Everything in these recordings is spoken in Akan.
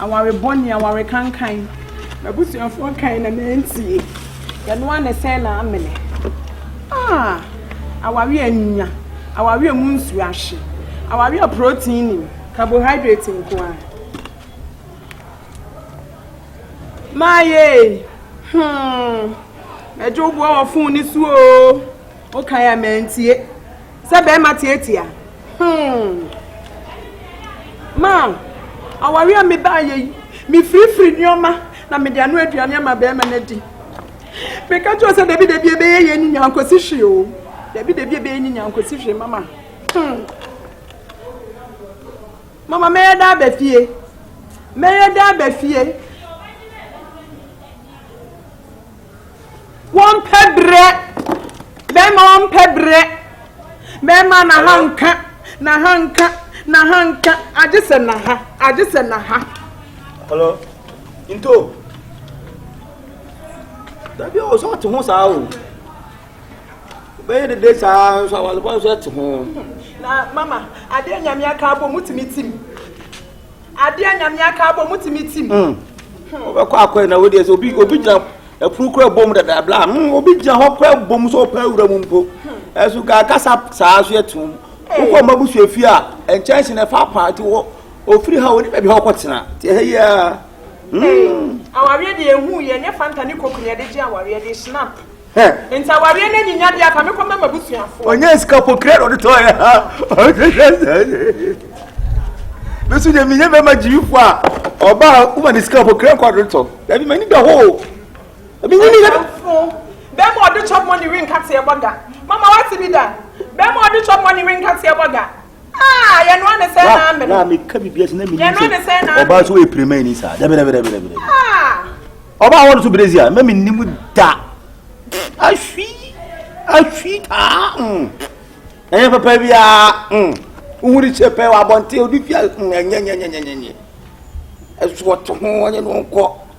Aware bɔne, aware kankan. M'abusuafoɔ kae na mantie. Ɛno ara na ɛsɛe m'amene. Ah! Aware a nnya, aware a mu nsuo ahye, aware a protein nnim, carbohydrate nko ara. Maayɛ ei! Hmm! M'agya wo boa wɔ fon no so oo. Wokae a mantie. Sɛ bɛɛma tiatia hmm ma aware a mebaa yɛ yi me firifiri nneɛma na mede ano aduane ama bɛɛma no adi meka kyerɛ sɛ dabi dabi ɛbɛyɛ yɛ ni nyankosi hwee o dabi dabi ɛbɛyɛ ni nyankosi hwee mama hmm mama mɛyɛ daa bɛ fie mɛyɛ daa bɛ fie Wɔmpɛ berɛ, bɛrima ɔmpɛ berɛ, bɛrima na ha nka, na ha nka, na ha nka, agye sɛ na ha, agye sɛ na ha. Hello, nto. Dabi a ɔsɔ te ho saa o. Bɛyɛ dede saa nso awale bɔ nso te ho. Na mama, adeɛ nyame aka abɔ mu tumi tim. Adeɛ a Nyame aka abɔ mu tumi tim. Hmm. Wobɛkɔ akɔɛ na wodeɛ sɛ obi obi gyina ɛpono kura bom dada bla hmm, obi gyina hɔ kura bom sɛ ɔpɛ awura mu mpo hmm. ɛso kakasa saa so ɛtom wokɔ mma bu suafie a nkyɛnse na ɛfa paa nti wɔ ofiri ha ɔne baabi ha ɔkɔtena nti ɛhɛ yi a hmm. awareɛ deɛ ɛhu yɛ nyɛ fanta ne koku ne ɛde gye awareɛ de snap Hɛ. Nti awareɛ no anyinya deɛ ka mekɔ mɛ m'abusuafoɔ. Ɔnyɛ sika pokira na ɔde tɔɔ yɛ ha. Me nso deɛ menyɛ bɛma gyiyifoɔ a ɔbaa woma ne sika pokira nkɔ ɔde tɔ. Dabi m'ani da hɔ o. Ebi nyini yɛ. Bɛma ɔde chop money renka teɛ bɔ da. Mama wate bi da. Bɛma ɔde chop money renka teɛ bɔ da. Ah, yɛ no ane sɛ na amene. Na meka biribi ase na menim sɛ ɔbaa so ɛpirima ani saa. Dɛbɛdɛbɛdɛbɛdɛbɛ. Ah. Ɔbaa wɔn so berezi a, na menim da. Ahwi, ahwi taa. Mm. Ɛnyɛ papa biara. Mm. Wohuri kyɛ pɛ wɔ abɔnten, odi fia. Mm. Ɛnyɛ, nyɛ, nyɛ, nyɛ, nyɛ. Ɛso ɔte ho, ɔnyɛ no nkɔ.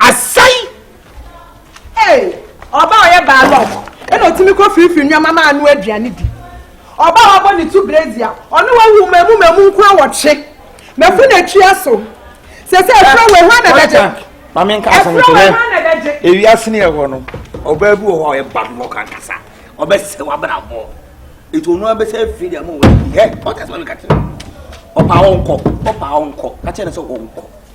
Asɛe! Ee, ɔbaa a ɔyɛ baalɔk na otumi kɔ firifiri nneɛma ma ano aduane di. Ɔbaa a wabɔ ne tu brezi a ɔne wawu mmamu mmamu nko awɔtwe. Mafu n'atua so. Sɛ sɛ ɛfrɛ wɔ ehwa na bɛgye. Ma me nka asɛm nkyerɛ. Ɛfrɛ wɔ ehwa na bɛgye. Ewiase ne ɛhɔ no, ɔbaa bi wɔ hɔ a ɔyɛ baalɔk ankasa. Ɔbɛsɛ w'abrabɔ. Etu ɔno abɛsɛ afiri deɛ mo wɔ ɛyɛ. Ɔkasa ma me ka kyerɛ. Ɔbaa ɔnkɔ. Ɔbaa ɔnkɔ. Ka kyerɛ ne sɛ ɔnkɔ.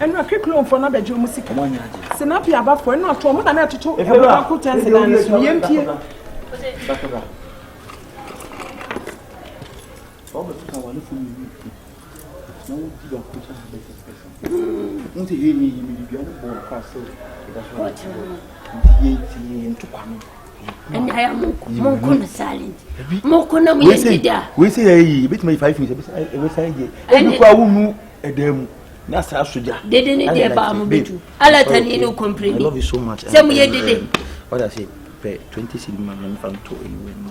ɛnu akekronfoɔ no abɛgye ɔmo sika sinapi abafoɔ ɛnu ato ɔmo na na ɛtoto ɔmo baako kyɛnse dan no so yɛn pie. Nti yɛ ni yɛ mi ni bi ɔmo bɔ ɔmo kɔ asew ɛda so ɔmo ti yɛ ti yɛ ntukwa no. ɛna ayɛ mo nko mo nko no silent mo nko na mo yɛ dida. wei sɛ yɛ yi ebi tuma yi five minutes ebi san yɛ ebi kura wo nu ɛdan mu na saa soja. dede ne deɛ baa mo bɛ tu ala ta ni ne complain ni sɛ mo yɛ dede. ɔda se pɛ twenty cedi ma mɛ nfa nto eyi wɛ mu.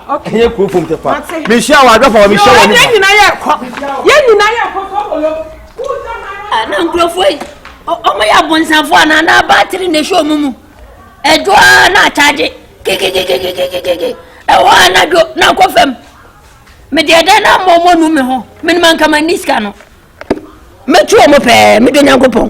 Okay. Ɛyɛ kuro fom tɛfa. Mate. Mehyia wɔ adwafa wɔ mehyia wɔ nipa. Yɛn nyinaa yɛ kɔ. Yɛn nyinaa yɛ kɔ tɔbolo. Ana nkurɔfoɔ yi ɔmo yɛ abonsanfoɔ anaa na baatiri na ehyɛ ɔmo mu. Ɛdwo ara na akyagye kikikikikikikiki ɛwɔ a na dwo na akɔ fam. Mede ɛdɛn na mmɔ ɔmo nu me ho menima nkama ni sika no. Mɛtu wɔn pɛɛ, medɔ Nyankopɔn.